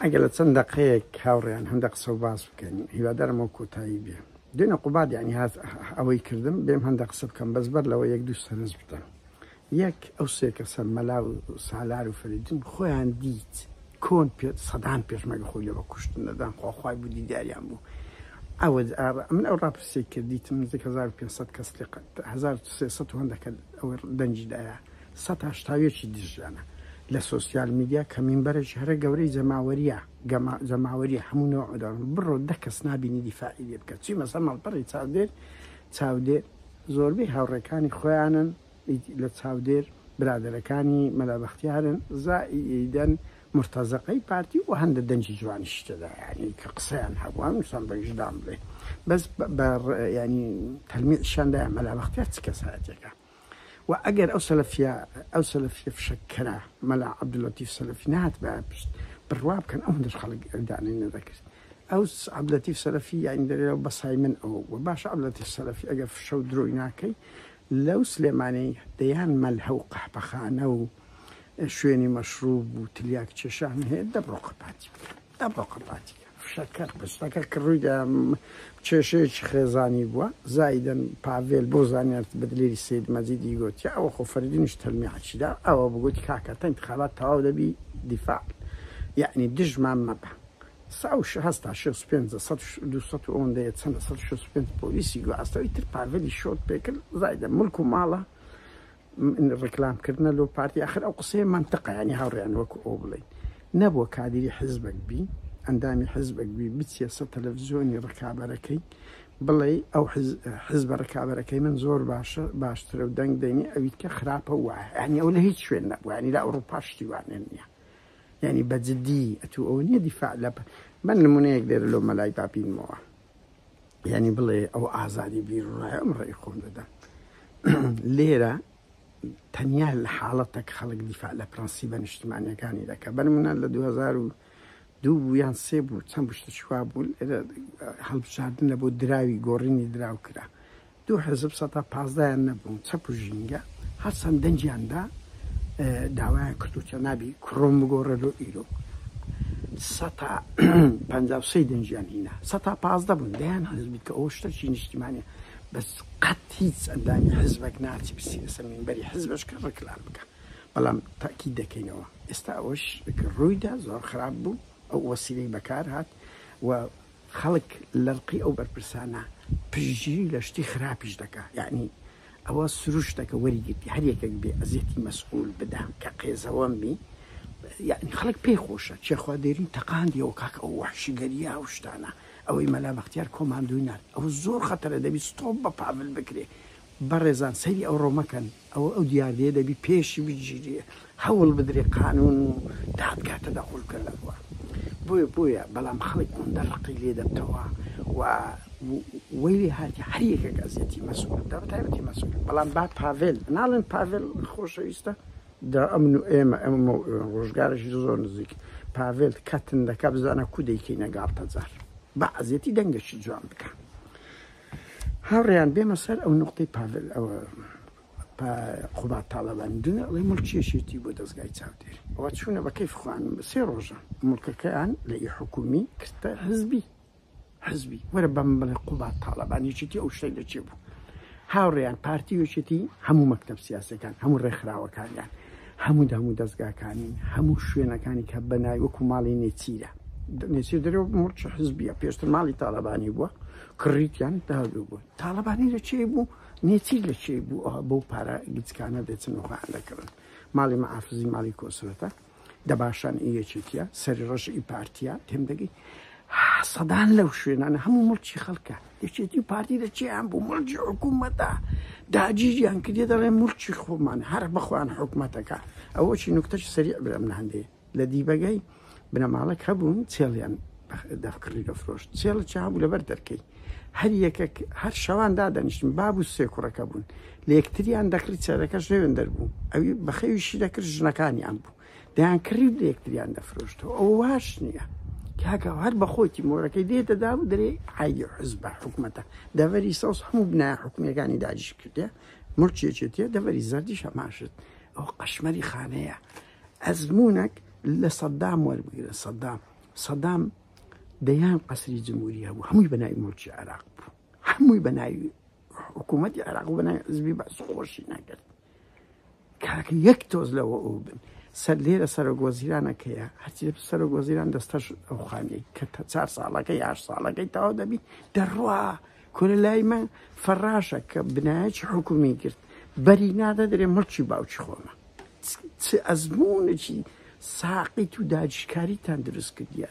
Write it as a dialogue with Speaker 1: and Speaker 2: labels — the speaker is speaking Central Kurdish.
Speaker 1: ئەگەر لە چەند دەقەیەک هاوڕێیان هەندە قسە و باس بکەین هیوادارم و کۆتایی بێ دێنە قوباد یعنی هاز ئەوەی کردم بێم هەندە قسە بکەم بەس بەر لەوە یەک دوو سەرنج بدەم یەک ئەو سێکە سەر مەلا و سالار و فریدون خۆیان دیت کۆن پێ سەدان پێشمەگە خۆی لەوە کوشتن دەدان خۆخوای بوو دیداریان بوو ئەوە من ئەو ڕاپرسی کردیتم نزیک 1500 کەس لقت 1300 هەندەکە ئەوە دەنجی دایە سەد هەشتا و یەک ی دژیانە لە سۆسیال میدیا کە مینبەرێکی هەرە گەورەی جەماوەریە گەما جەماوەریە هەموو نۆع و دەڕن بڕۆ دە کەس نابینی دیفاعی لێ بکە چی مەسە ماڵپەڕی چاودێر چاودێر زۆربەی هاوڕێکانی خۆیانن ئیت لە چاودێر برادەرەکانی مەلا بەختیارن زا ی ئیدەن مورتەزەقەی پارتی و هەندە دەنگی جوانیشی تێدا یانی کە قسەیان هەبوو هەموو شتان بە ویژدان بڵێ بەس بە بە ڕ یانی تەلمیعشیان دایە مەلا بەختیار چ کەسایەتێکە. وە ئەگەر ئەو سەلەفیە ئەو سەلەفیە فشەکەرە مەلا عەبدولەتیف سەلەفی نەهاتبایە پشت بڕوا بکەن ئەوەندەش خەڵک دانەی نەدەکرد ئەو عەبدولەتیف سەلەفی یانی دەرێەوە بەسای من ئەوە بووە باشە عەبدولەتیف سەلەفی ئەگەر فشە و درۆی ناکەی لەو سلێمانەی دەیان مەلهە و قەحپەخانە و شوێنی مەشروب و تلیاک چێشان هەیە دەبڕۆ قەپاتی بکە ئەمڕۆ قەپاتی فشەکەر بستەکە کە ڕوویدا کێشەیەکی خێزانی بووە، زایدەن پاڤێل بۆ زانیارت بە دلێری سەید مەجیدی گوت، ئەوە خۆ فەردینیش تەلمیعەکی دا، ئەوە بگوت کاکە تا ئینتخابات تەواو دەبی دیفاع یەعنی دژمان مەبە. سە و شە هەستا شێ و پێنج سە و دوو سە و ئەوەندە یە چەنە سە و شێ و پێنج پۆلیسی گواستەوە ئیتر پاڤێلی شۆت پێکرد زایدەن ملک و ماڵە ڕیکلام کردنە لۆ پارتی ئەخر ئەو قسەیە مەنتقە ینی هاوڕێیان وەکو ئەو بڵین نەبووە کادری حزبک بی ئەندامی حزبک بی بچیە سە تەلەڤزیۆنی ڕکابەرەکەی بڵێ ئەو حزب ڕکابەرەکەی من زۆر باشە باشترە و دەنگ دەینی ئەویت کە خراپە وایە ینی ئەو لە هیچ شوێن نەبووانی لە ئەوروپا شتیوانێن نیە ینی بەجددی ئەتو ئەو نیە دیفاع لە من نمونەیەک لێرە لۆ مەلای بابینمەوە یعنی بڵێ ئەو ئازادی بیرڕایە ئەم ڕێی خۆم دەدەم لێرە تەنیا لە حاڵەتەک خەڵک دیفاع لە پرەنسی بە نیشتمانیەکانی دەکە بەرمنە لە 2000 دوو بوو یان سێ بوو چەند بشتە چوا بوو هەڵبژاردن لە بۆ دراوی گۆڕینی دراو کرا دوو حزب سە پازدایان نەبوون چەپ و ژینگە هەرچەند دەنجیاندا داوایان کردو چەنابی کوڕم بگۆڕە لۆ ئیرۆک سەتا پەنجا و سەی دەنجیان هینا سەتا پازدە بوون دەیان حزب بیت کە ئەو شتەکی نیشتیمانە بەس قەت هیچ ئەندامی حزبەک ناچی بسی لەسە مینبەری حزبش کە ڕکلام بکە بەڵام تاکی دەکەینەوە ئێستا ئەوش ڕوویدا زۆر خراپ بوو ئەو وەسیلەی بەکار هات و خەڵک لەرقی ئەو بەرپرسانە پشتگیری لە شتی خراپیش دەکا یەعنی ئەوە سروشتەکە وەری گرتی هەر یەکێک بێ ئەزیەتی مەسئول بدا کە قێزەوەن بی یەعنی خەڵک پێی خۆشە چێخوا دێرین تەقاندیەوە کاک ئەو وەحشی گەریا ئەو شتانە ئەوەی مەلا بەختیار کۆماندۆی نارد ئەوە زۆر خەتەرە دەبی ستۆپ بە پاڤل بکرێ بەڕێزان سەیری ئەوڕۆ مەکەن ئەوە ئەو دیاردەیە دەبی پێشی بگیری هەوڵ بدرێ قانون و دادگا تەدەخول بکەن لە خوار بۆیە بۆیە بەڵام خەڵک ئەوەندە ڕقی لێ دەبتەوە و وەی لێ هاتی هەر یەکێک ئەزیەتی مەسولە دا بەتایبەتی مەسولە بەڵام با پاڤێل ناڵێن پاڤێل خۆشەویستە دا ئەمن و ئێمە ئەمە ڕۆژگارێکی زۆر نزیک پاڤێل کەتن دەکە بزانە کودەیکەی نەگاڵتەجار بە ئەزیەتی دەنگەشی جوان بکە هاوڕێیان بێمە سەر ئەو نوقتەی پاڤل ئەوە پا قوباد تاڵەبانی دونیا ئەڵێ مڵکی یەکێتی بۆ دەزگای چاودێری ئەوە چوونە بە کەیف خوان سێ ڕۆژە مڵکەکەیان لە ئی حکومی کردە حزبی حزبی وەرە بەم بڵێ قوباد تاڵەبان یەکێتی ئەو شتەی لە چێ بوو هاوڕێیان پارتی یەکێتی هەموو مەکتب سیاسەکان هەموو ڕێکخراوەکانیان هەموو هەموو دەستگاکانین هەموو شوێنەکانی کە بەنای وەکو ماڵی نێچیرە نێچیر دەرەوە مڵکی حزبیە پێشتر ماڵی تاڵەبانی بووە کڕیتیان داوی بۆ تاڵەبانی لە چێی بوو نێچیر لە چێی بوو ئەوە بەو پارە گچکانە دەچن و خۆیان دەکڕن ماڵی مەعافزی ماڵی کۆسرەتە دەباشان ئی یەکێتیە سەری ڕەش ئی پارتیە تێم دەگەی سەدان لەو شوێنانە هەموو مڵکی خەڵکە یەکێتی پارتی لە چیان بوو مڵکی حکوومەتە داگیریان کردێ دەڵێ ملکی خۆمان هەر بەخۆیان حکوومەتەکە ئەوەی نوکتەش سەری برم لە هەندێک لە دیبەگای بنەماڵەک هەبوون چێڵیان دەف کڕی دەفرۆشت چێڵە چا بوو لەبەر دەرکەی هەر یەکەک هەر شەوان دادەنیشتن باب و سێ کوڕەکە بوون لە یەکتریان دەکڕی چێرەکەش لەوێن دەربوو ئەوی بەخەویشی دەکرد ژنەکانیان بوو دەیان کڕی لە یەکتریان دەفرۆشتەوە ئەو واش نییە کاکە هەر بەخۆتی مۆرەکەی دێ دەدا و درێ عیدی حز بە حکوومەتە دەڤەری سەوز هەموو بنا حکومیەکانی داجیش کردێ ملکێکێتە دەڤەری زەردیش هەماشت ئەو قەشمەری خانەیە ئەزموونەک لە سەدام وەربگرن سەدام سەدام دەیان قەسری جمهوری هەبوو هەمووی بەناوی ملکی عێراق بوو هەمووی بەناوی حکوومەتی عێراق بەناوی حزبی بەس خۆشی نەکرد کاک یەک تۆز لەوە ئەو بن سەر لێرە سەرۆک وەزیرانەکەیە هەرچی سەرۆک وەزیران دەستەش ئەو خانەی کە تا چار ساڵەکە یاش ساڵەکەی تاوا دەبی دەڕوا کورە لای من فەراشە کە بنایەکی حکومی گرت بەری نادەدرێ مڵکی باوکی خۆمە چ ئەزمونێکی ساقیت و داجیشکاریتان دروست کردیە.